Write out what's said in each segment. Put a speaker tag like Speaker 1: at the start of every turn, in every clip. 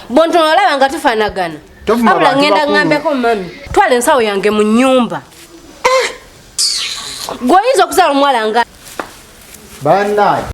Speaker 1: bontono olaba nga tufanagana abula ŋŋenda ŋŋambeko mami twala ensawo yange mu nnyumba eh! gwe oyinza okuzaala omuwala nga
Speaker 2: banaye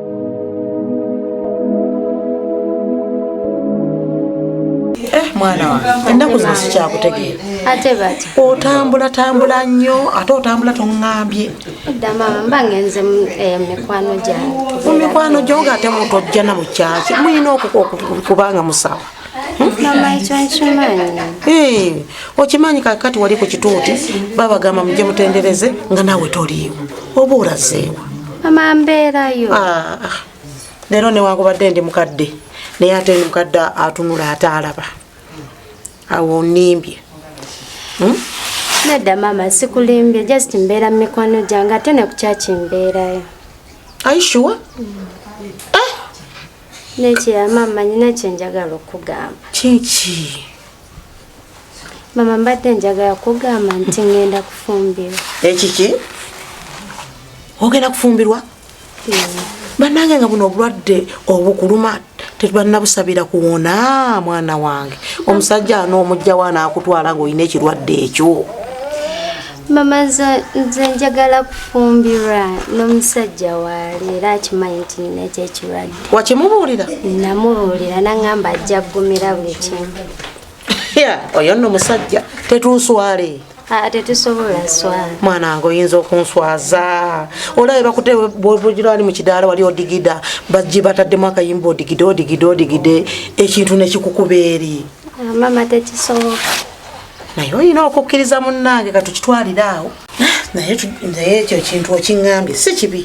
Speaker 3: Eh, mwana wange ennaku zino sikyakutegeera ate bati
Speaker 1: otambula tambula
Speaker 3: nnyo ate otambula toŋambye
Speaker 1: eh, mu mikwano gyo nga
Speaker 3: ate mutojjana mu kyaki mulina okubanga musawa
Speaker 1: Eh, okimanyi
Speaker 3: kakati wali ku kituuti babagamba muje mutendereze nga nawe toliiwo oba olazeewa amambeerayo
Speaker 1: ah, ah.
Speaker 3: leero newakubadde ndi mukadde naye ate ndi mukadde atunula ate alaba awo nimbye hmm?
Speaker 1: nedda maama sikulimbye just mbeera mu mikwano gyange ate nekukyakimbeerayo aishuwa Neekiya maama nyina kye njagala okugamba. Kyeki? Maama mbadde njagala kugamba nti ngenda kufumbirwa. Ekiki?
Speaker 3: Ogenda kufumbirwa? Banange nga buno obulwadde obukuluma tebanabusabira kuwona mwana wange omusajja anoomujjawo anaakutwala ng'olina ekirwadde ekyo.
Speaker 1: mama nze njagala kufumbirwa n'omusajja waali era akimanyi nti nina ekyo ekirwadde wakimubuulira
Speaker 3: namubuulira
Speaker 1: nangamba ajja kugumira buli kimu
Speaker 3: oyo nno musajja tetunswale ah, tetusobola
Speaker 1: swala mwana nga oyinza
Speaker 3: okunswaza olabe bakute bwebugirani mu kidaala wali odigida bajje bataddemu akayimba odigide odigide odigide ekintu nekikukuba eri ah, mama
Speaker 1: tekisoboka naye
Speaker 3: olina okukkiriza munnange katukitwalire awo naye naye ekyo ekintu okiŋambye si kibi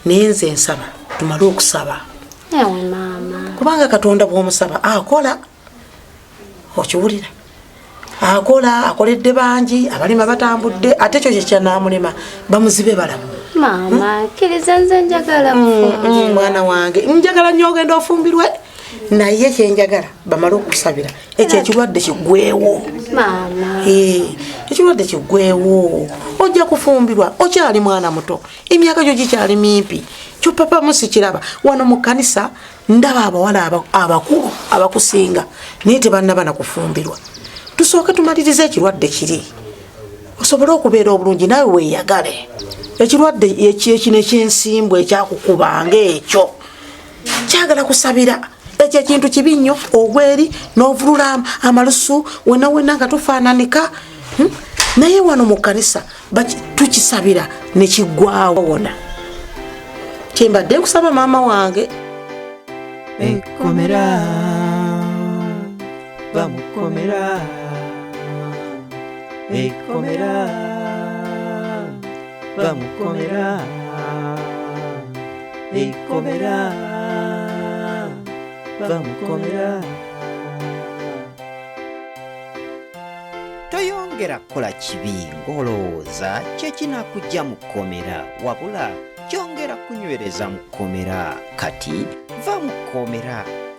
Speaker 3: naye nze nsaba tumale okusaba
Speaker 1: kubanga katonda
Speaker 3: bwomusaba akola okiwulira akola akoledde bangi abalima batambudde ate ekyo kyekyanamulema bamuzibe balamu
Speaker 1: mwana wange
Speaker 3: njagala nyo ogenda ofumbirwe naye kyenjagala bamale okusabira ekyo ekirwadde kigwewo
Speaker 1: eh, ekirwadde
Speaker 3: kigwewo ojja kufumbirwa okyali mwana muto emyaka gyo gikyali mimpi kyopapa musikiraba wano mu kanisa ndaba abawala abakulu abakusinga naye tebanaba nakufumbirwa tusooke tumaliriza ekirwadde kiri osobole okubeera obulungi nawe weyagale ekirwadde ekino ekyensimbwa ekyakukuba ngaekyo kyagala kusabira ekyo ekintu kibi nnyo ogweri n'ovulula amalusu wena wena nga tufaananika hmm? naye wano mu kkanisa tukisabira nekiggwawo wona kyembadde nkusaba maama wange ekkomera
Speaker 4: bamukomera ekkomera bamukomera ekomera bamukomera toyongera kukola kibi ng'olowooza kye kinakujja mu kkomera wabula kyongera kunywereza mu kkomera kati va mu kkomera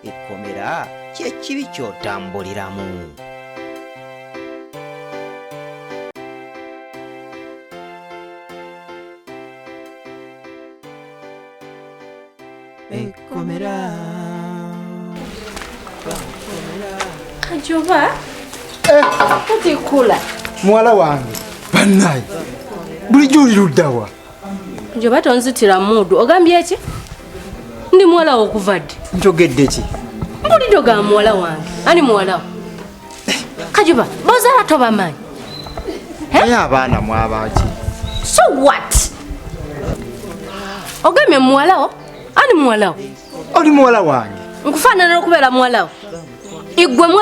Speaker 4: ekkomera kyekibi ky'otambuliramu
Speaker 1: kajoba otikula muwala
Speaker 2: wange bannaye bulijjo oli luddawa njoba
Speaker 1: tonzitira muudu ogambye ki ndi muwala wokuvadde njogedde ki
Speaker 2: mpulidde ogamba
Speaker 1: muwala wange ani muwalawo kajuba bozala tobamanyi
Speaker 2: naye abaana mwabaki so
Speaker 1: what ogamye muwalawo ani muwalawo oli muwala
Speaker 2: wange nkufaanana okubeera
Speaker 1: muwalawo igwemu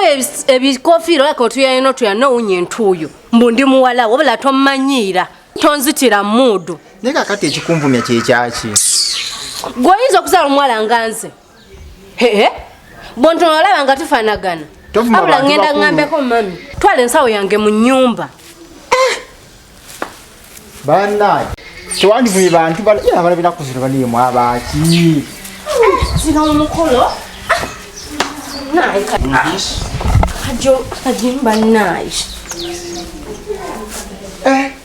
Speaker 1: ebikofiira olaka otuyayina otuyana owunya entuuyo mbu ndi muwalawo obula tomanyiira tonzitira muudu naye kakati ekikunvumya
Speaker 2: kyekyaki
Speaker 1: gweoyinza okuzaala omuwala nga nze Hehe. Bonto olaba nga tufanagana. Abula ngenda
Speaker 2: ngambeko
Speaker 1: mami. Twale ensawo yange mu nyumba. Eh.
Speaker 2: Bana. Kiwandi bwe bantu bali ya bali bina kuzira bali mu abaki.
Speaker 1: Zino eh, mukolo. Ah. Nae ka. Ajo kajimba nae. Eh.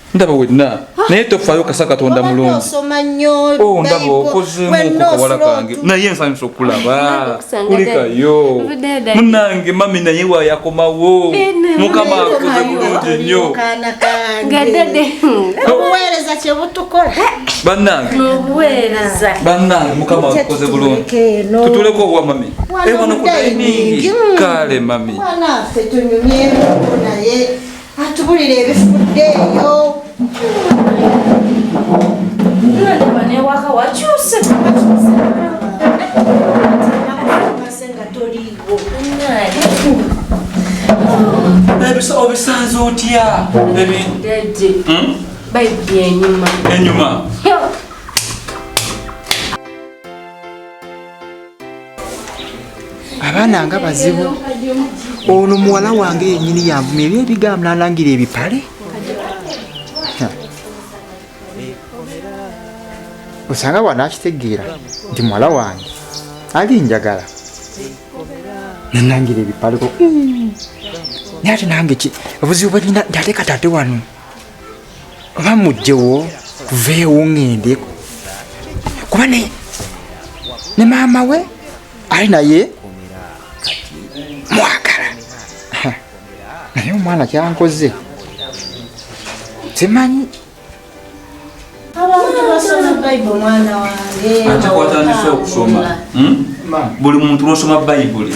Speaker 5: ndaba wenna ah. naye tofayo kasa katonda mulungi
Speaker 3: oh, ndaba
Speaker 5: okozemuokukawala kange naye nsanyusa okulaba kulikayo munange mami naye wayakomawo eh, mukama akoze bulungi
Speaker 1: nnyo
Speaker 3: banange
Speaker 1: banange mukama
Speaker 5: akoze bulungi tutuleko owa mami ewano eh, kudayiningi kale mami
Speaker 3: atubulira
Speaker 1: ebifudde
Speaker 5: eyo obisanze otya
Speaker 1: enyuma
Speaker 2: abaana nga bazibu ono muwala wange yenyini yanvuma ebyo ebigambo nalangira ebipale osanga wana akitegeera nti muwala wange ali njagala nanangira ebipaleko naye ate nange ki obuzibu bwelina nti ate katate wano oba mujjewo tuveewo ŋŋende kuba ne ne maama we ali naye mwagala naye omwana kyankoze simanyi ate
Speaker 3: kwatandise
Speaker 5: okusoma hmm? buli muntu lwosoma bayibuli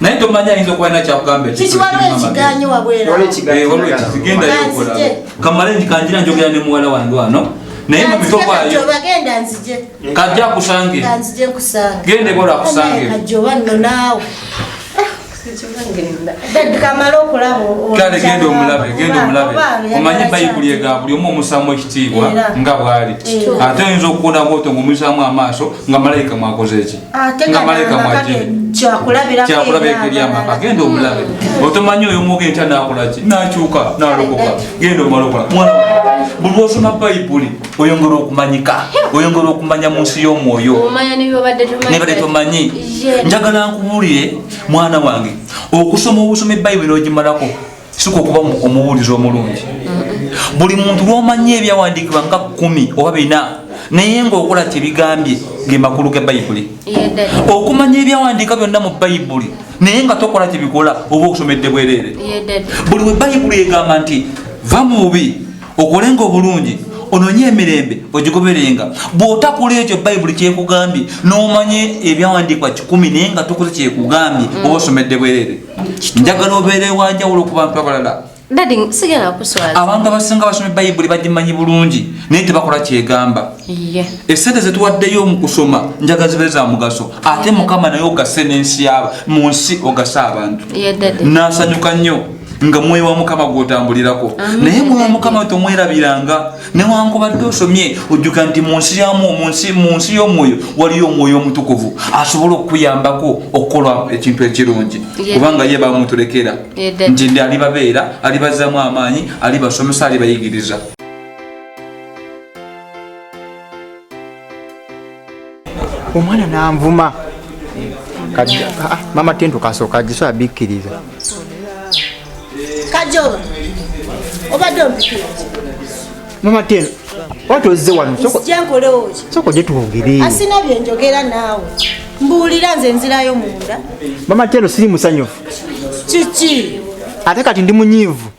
Speaker 3: naye tomanyi
Speaker 5: ayinza okuba alina
Speaker 3: kyakugamba
Speaker 5: kamale nti kanjira njogera ne muwala wange wano naye mubitokwayo
Speaker 3: kajja akusangire genda ebola akusangire kale genda omulabe
Speaker 5: genda omulabe omanyi bayibuli ega buli omu omusaamu ekitiibwa nga bwali ate oyinza okuwona bwoto ngaomuisaamu amaaso nga malayika mwakoze eki agenda omulabe otomanya oyo muga enkya nakolaki nakyuka nalokoka genda omalokola mwana buli osoma bayibuli oyongera okumanyika oyongera okumanya mu nsi y'omwoyo nebade tomanyi njagala nkuwulire mwana wange okusoma obusoma ebayibuli nogimalako sika okuba omubuulizi omulungi buli muntu lwomanyi ebyawandiikibwa nga kumi oba bina naye ngaokola kyebigambye ge makulu ga bayibuli okumanya ebyawandiika byonna mu bayibuli naye nga tokola kyebikola oba okusomedde bwereere buli we bayibuli egamba nti va mu bubi okolenga obulungi ononye emirembe ogigoberenga bwotakula ekyo bayibuli kyekugambye nomanya ebyawandiikwa kikumi naye nga tokoze kyekugambye mm. oba osomedde bwereere njagala obeera ewanjawulo ku bantu abalala abantu abasinga basoma bayibuli bagimanyi bulungi naye tebakola kyegamba esente zetuwaddeyo mu kusoma njaga zibe za mugaso ate mukama naye ogase nensi yaba mu nsi ogase abantu nasanyuka nnyo nga mwoyo wa mukama gwotambulirako naye mwoyo wa mukama tomwerabiranga newankubadde osomye ojjuka nti mu nsi yamu mu nsi y'omwoyo waliyo omwoyo omutukuvu asobola okukuyambako okukola ekintu ekirungi kubanga ye bamutulekera nti ndi alibabeera alibazzamu amaanyi alibasomesa alibayigiriza
Speaker 2: omwana nanvuma ah, mama tento kasooka agiso abikkiriza
Speaker 6: kajoba obadde ompikira mama
Speaker 2: tento wati ozze wano soko
Speaker 6: gye twogere
Speaker 2: asina bye njogera
Speaker 6: naawe mbuulira nze nzirayo munda mama tento siri
Speaker 2: musanyufu kiki
Speaker 6: ate kati
Speaker 2: ndi munyiivu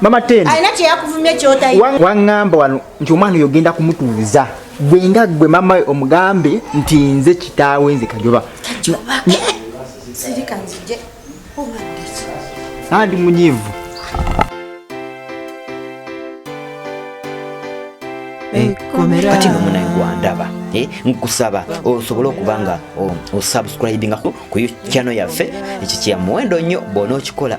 Speaker 6: mama tendo
Speaker 2: alina kyeyakuvumye
Speaker 6: kyotayi wangamba wano
Speaker 2: nti omwana oyo ogenda kumutuuza gwe nga gwe mama omugambe nti nze kitaawe nze kajoba andi munyivu
Speaker 4: kati nomunaye gwandaba eh, nkusaba osobole okuba nga osubscribinga ku channel yaffe ekikyamuwendo nnyo bwona okikola